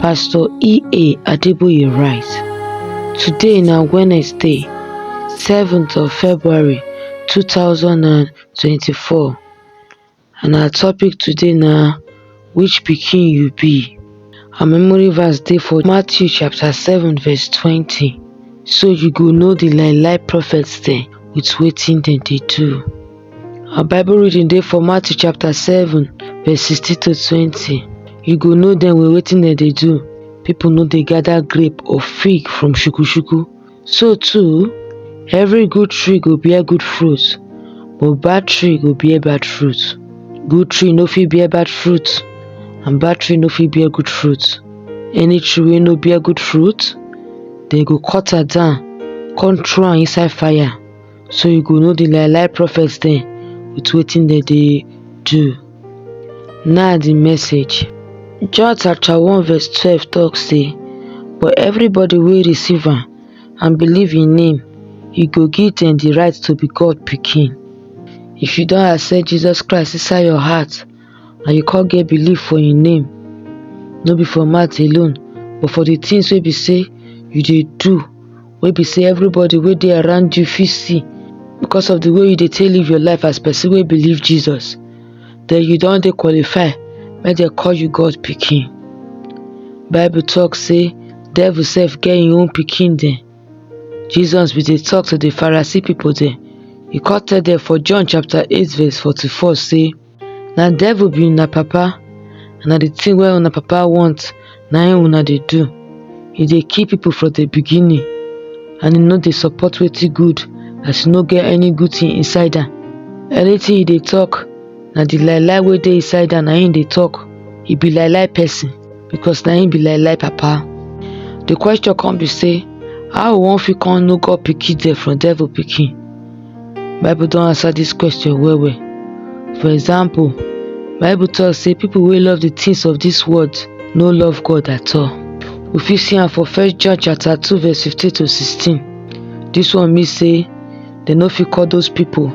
Pastor E.A. Adeboye write, Today na Wednesday, 7th of February 2024 and our topic today na which pikin you be? Our memory verse dey for Matthew chapter 7 verse 20 so you go know the lie lie prophets dem with wetin dem dey do. Our Bible reading dey for Matthew chapter 7 verse 16 to 20. You go know dem well wetin dem dey do. People no dey gather grape or fig from shukushuku. So too, every good tree go bear good fruit, but bad tree go bear bad fruit. Good tree no fit bear bad fruit, and bad tree no fit bear good fruit. Any tree wey no bear good fruit, dem go cut am down, come throw am inside fire. so you go know the lie lie prophets dem with wetin dem dey do. Now the message. John chapter 1 verse 12 talk say, But everybody wey receive am and believe in him, he go give them the right to be God pikin. If you don accept Jesus Christ inside your heart, and you come get belief for im name no be for mouth alone but for the things wey be say you dey do wey be say everybody wey dey around you fit see because of the way you dey take live your life as person wey believe jesus then you don dey qualify make dem call you god pikin bible talk say devil sef get im own pikin dem jesus bin dey talk to the pharisee people dem e come tell dem for john chapter eight verse forty-four say na devil be una papa and na the thing wey una papa want na im una dey do e dey kill people from the beginning and e no dey support wetin good as e no get any good thing inside am anything e dey talk na the lie lie wey dey inside am na im e dey talk e be lie lie person because na im be lie lie papa the question come be say how we wan fit come know God pikin dem from devil pikin Bible don answer dis question well well. For example, Bible talk say people wey love the things of this world no love God at all. We fit see am for First John chapter 2 verse 15 to 16. This one mean say dem no fit call those people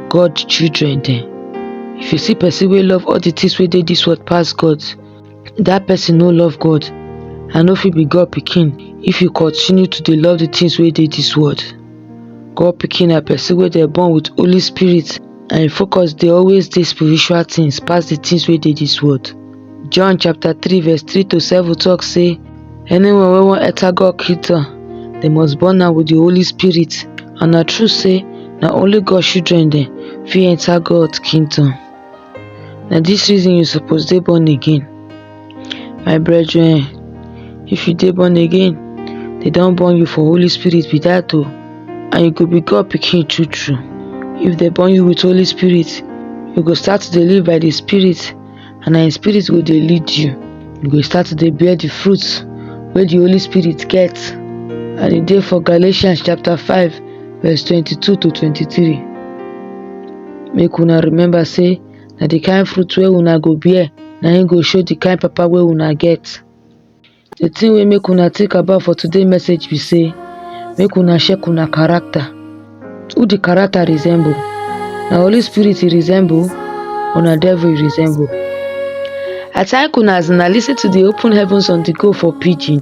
God children dem. If you see person wey love all the things wey dey this world pass God, Dat person no love God and no fit be God pikin if you continue to dey love the things wey dey this world. God pikin na person wey dem born with Holy Spirit and im focus dey always dey spiritual things pass the things wey dey this world. John chapter 3 verse 3 to 7 talk say anyone wey wan enter God kingdom dem must born am with the Holy Spirit and na true say na only God children dem fit enter God kingdom. na dis reason you suppose dey born again my brethren if you dey born again they don born you for holy spirit be that o and you go be god pikin true true if they born you with holy spirit you go start to dey live by the spirit and na him spirit go dey lead you you go start to dey bear the fruit wey the holy spirit get and e dey for galatians chapter five verse 22 to 23 make una remember say na the kind fruit wey una go bear na im go show the kind papa wey una get the thing wey make una think about for today message be say make una check una character who the character resemble na holy spirit e resemble or na devil e resemble i thank una as una lis ten to the open heavens on the go for pidgin